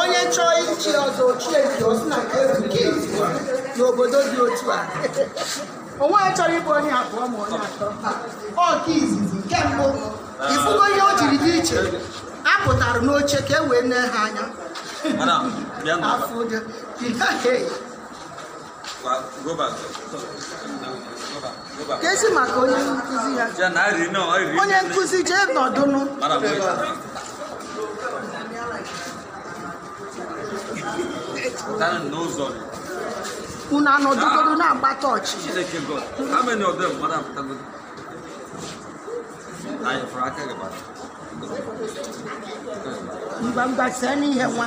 onye chọọ ichi ọzọ o chie nke osi na nke ezi nke izi n'obodo dị otu a onwe ya chọrọ ịbụ onye abụọ ma onye atọ ọ nke izizi nke mbụ ifugo ihe o jiri dị iche a pụtara n'oche ka e wee nee ha anya Ana, bịa na. afọ ụjọ ka e si maka onye nkụzi ya onye nkụzi jee nọdụnụ unu anọdụgodu na-agba tọọchị mgbamgbasa n'ihe nwa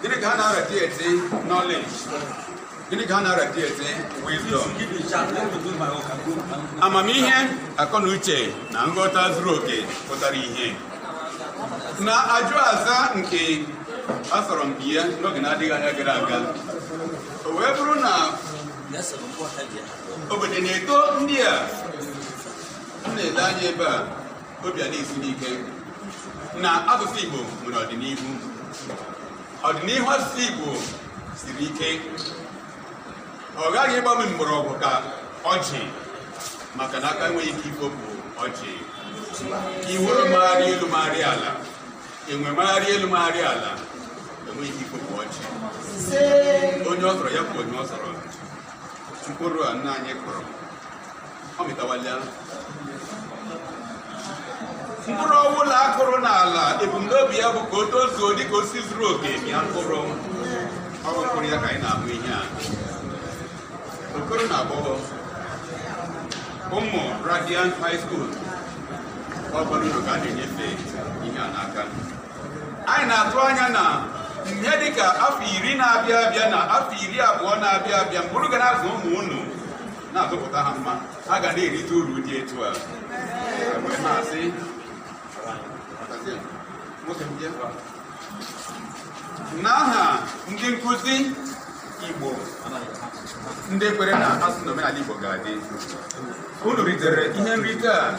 Gịnị ka ha na-arati eti knowledge? Gịnị ka ha na-arati eti wisdom? Amamihe, akọ na uche na nghọta zuru oke pụtara ihe. N'ajụ aza nke a sọrọ mpi ya n'oge na-adịghị anya gara aga. O wee bụrụ na obodo na-eto ndị a m na-ele anya ebe a obi ana-esi m ike na asụsụ Igbo nwere ọdịnihu ọdịnihu asụsụ Igbo siri ike ọ ghaghị ịgbanye mgbọrọgwụ ka ọjị maka na aka enweghị ike ifopụ ọjị iwere magharị elu magharị ala enwe magharị elu magharị ala enweghị ike ifopụ ọjị onye ọ sọrọ ya bụ onye ọ sọrọ mkpụrụ a nna anyị kụrụ ọ mịtawala mkpụrụ ọbụla a kụrụ n'ala ebumnobi ya bụ ka o tozuo dị ka osisi zuru oke mịa mkpụrụ ọ bụ mkpụrụ ya ka anyị na-ahụ ihe a okoro na agbọghọ ụmụ Radiant High School ọ bụrụ unu ka a na-enyefe ihe a n'aka anyị na-atụ anya na ihe dịka afọ iri na-abịa abịa na afọ iri abụọ na-abịa abịa mgbe unu ga na-azụ ụmụ unu na-azụpụta ha mma ha ga na-erite uru dị etu a wee na-asị n'aha ndị nkụzi Igbo ndị kwere na asụsụ na omenala Igbo ga-adị unu ritere ihe nrite a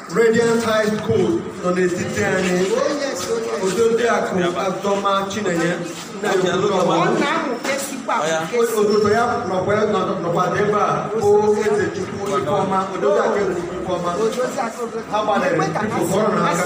Radiant High School nọ n'etiti anyị Odoziakụ Azọma Chinenye osote ya nọkwa ebe a bụ Ezechukwu Ifeọma Odoziakụ Ezechukwu Ifeọma ha gbalịrị biko kụọrọ ha aka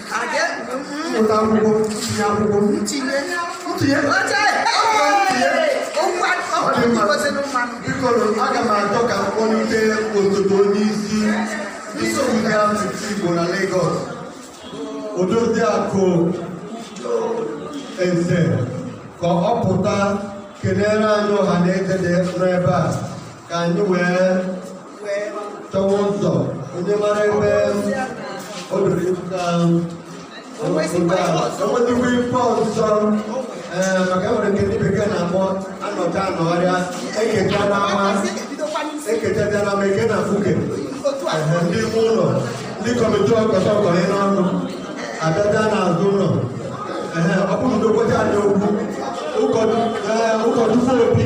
mmụta akwụkwọ ntinye akwụkwọ ntinye ntinye biko aga m achọ ka m kpọlite osote onye isi ndị asụsụ Igbo na Lagos Odoziakụ Eze ka ọ pụta kelere anyị ọha na eze dị n'ebe a ka anyị wee chọwa ụzọ onye mara ebe o doro ịpụta enwetakwa ife ọzọ ee maka e nwere nke ndị bekee na-akpọ anọcha na ọrịa ekecha n'ama ekecha bịa n'ama eke na fuke Ehe, ndị ime ụlọ ndị kọmitii ọkọta ọkọrọ ịnụ ọnụ abịaja n'azụ ụlọ Ehe, ọ bụrụ na okwecha anyị okwu ụkọchukwu obi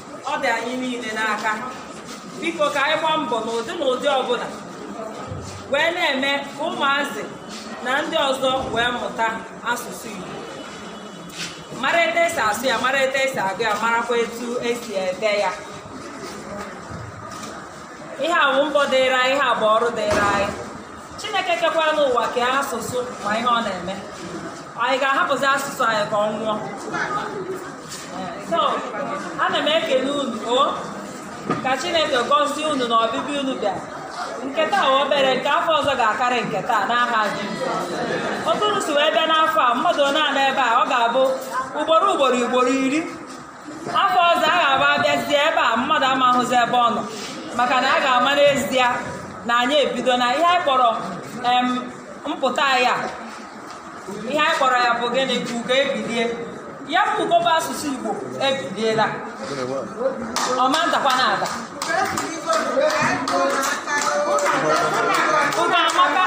ọ dị anyị niile n'aka biko ka anyị gbaa mbọ n'ụdị n'ụdị ọbụla wee na-eme ka ụmụazị na ndị ọzọ wee mụta asụsụ Igbo mara etu esi asụ ya mara etu esi agụ ya marakwa etu esi ede ya ihe a bụ mbọ dịịrị anyị ihe a bụ ọrụ dịịrị anyị chineke kekwanụ ụwa kee asụsụ ma ihe ọ na-eme anyị ga-ahapụzi asụsụ anyị ka ọ nwụọ so ana m ekele unu o ka chineke gọzie unu n'ọbịbịa unu bịa nke taa bụ obere nke afọ ọzọ ga-akarị nke taa n'aha Jizọs otu unu si wee bịa n'afọ a mmadụ one a nọ ebe a ọ ga-abụ ugboro ugboro ugboro iri afọ ọzọ a ga-abụ a bịazie ebe a mmadụ ama ahụzi ebe ọ nọ maka na a ga-ama n'ezie na anyị ebidona ihe anyị kpọrọ em, mpụta ya ihe anyị kpọrọ ya bụ gịnị ka ugo ebilie ya bụ ugo bụ asụsụ igbo ebiliela ọ ma adakwana ada ugo amaka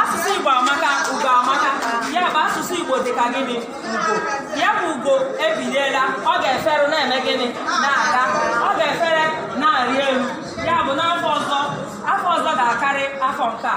asụsụ igbo amaka ugo amaka ya bụ asụsụ igbo dị ka gịnị ugo ya bụ ugo ebiliela ọ ga-efere na-eme gịnị na-aga ọ ga-efere na-arị elu ya bụ n'afọ ọzọ afọ ọzọ ga-akarị afọ nke a